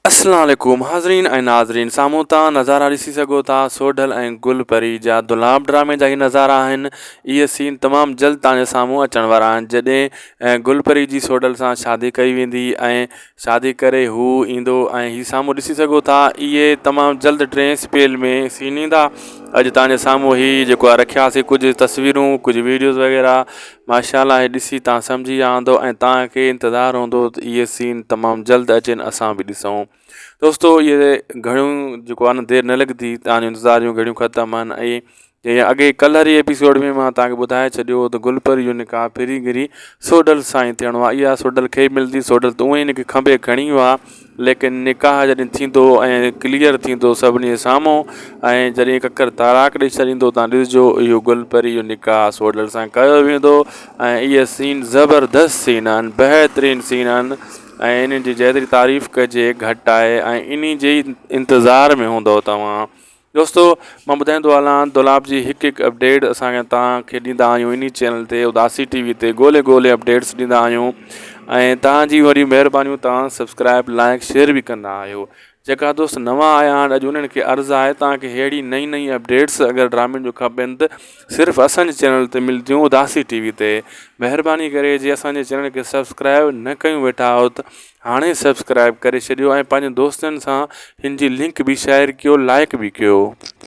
السلام عليڪم حاضرين ۽ ناظرين سامهون تان نظارا ڏسي سگهو ٿا سوڍل ۽ گل پري جا دولاب ڊرامي جا هي نظارا آهن اهي سين تمام جلد تان جي سامهون اچڻ وارا آهن جڏهن گل پري جي سوڍل سان شادي ڪئي ويندي ۽ شادي ڪري هو ايندو ۽ هي سامهون ڏسي سگهو ٿا اهي تمام جلد ٽين سپيل ۾ سين ايندا اڄ تان جي سامهون هي جيڪو آ رکياسي ڪجهه تصويرون ڪجهه ويڊيوز وغيره ماشاءالله هي ڏسي تان سمجهي ويا هوندو ۽ تان کي انتظار هوندو ته اهي سين تمام جلد اچين اسان به ڏسون دوستو اهي گهڙيون جيڪو آهي نه دير نه لڳندي تان جو انتظار جون گهڙيون ختم آهن ۽ جيئن اڳي ڪلهه واري ايپيسوڊ ۾ مان تان کي ٻڌائي ڇڏيو هو ته گل پري جو نڪاح پھرين گهري سوڍل سان ئي ٿيڻو آهي اها سوڍل کي ملندي سوڍل ته اونئي هن کي کنڀي کڻي ويو آهي ليڪن نڪاح جڏھن ٿيندو ۽ ڪليئر ٿيندو سڀني سامھون ۽ جڏھن ڪڪر طاراق ڏئي ڇڏيندو تان ڏسجو اھو گل پري جو نڪاح سوڍل سان ڪيو ويندو ۽ اھي سين زبردست سين آھن بهترين سين آھن ۽ انھن جي جيتري تعريف ڪجي گهٽ آھي ۽ انھي جي ئي انتظار ۾ ھوندؤ توھان دوستو مان ٻڌائيندو هلان دولاب جي هڪ هڪ اپڊيٽ اسان توهان کي ڏيندا آهيون انهي چينل تي اداسي ٽي وي تي ڳولي ڳولي اپڊيٽس ڏيندا آهيون ۽ توهان جي وڏيون مهربانيون توهان سبسڪرائب لائڪ شيئر به ڪندا آهيو جيڪا دوست نوان آيا آهن اڄ انهن کي عرض آهي توهان کي ههڙي نئي نئي اپڊيٽس اگر ڊرامين جو کپين ته صرف اسان جي چينل تي ملديون اداسي ٽي وي تي مهرباني ڪري جي اسان جي چينل کي سبسڪرائب نه ڪيون ويٺا آهيو ته هاڻي سبسڪرائب ڪري ڇڏيو ۽ پنهنجن دوستن سان هن جي لنڪ به شيئر ڪيو لائڪ به ڪيو.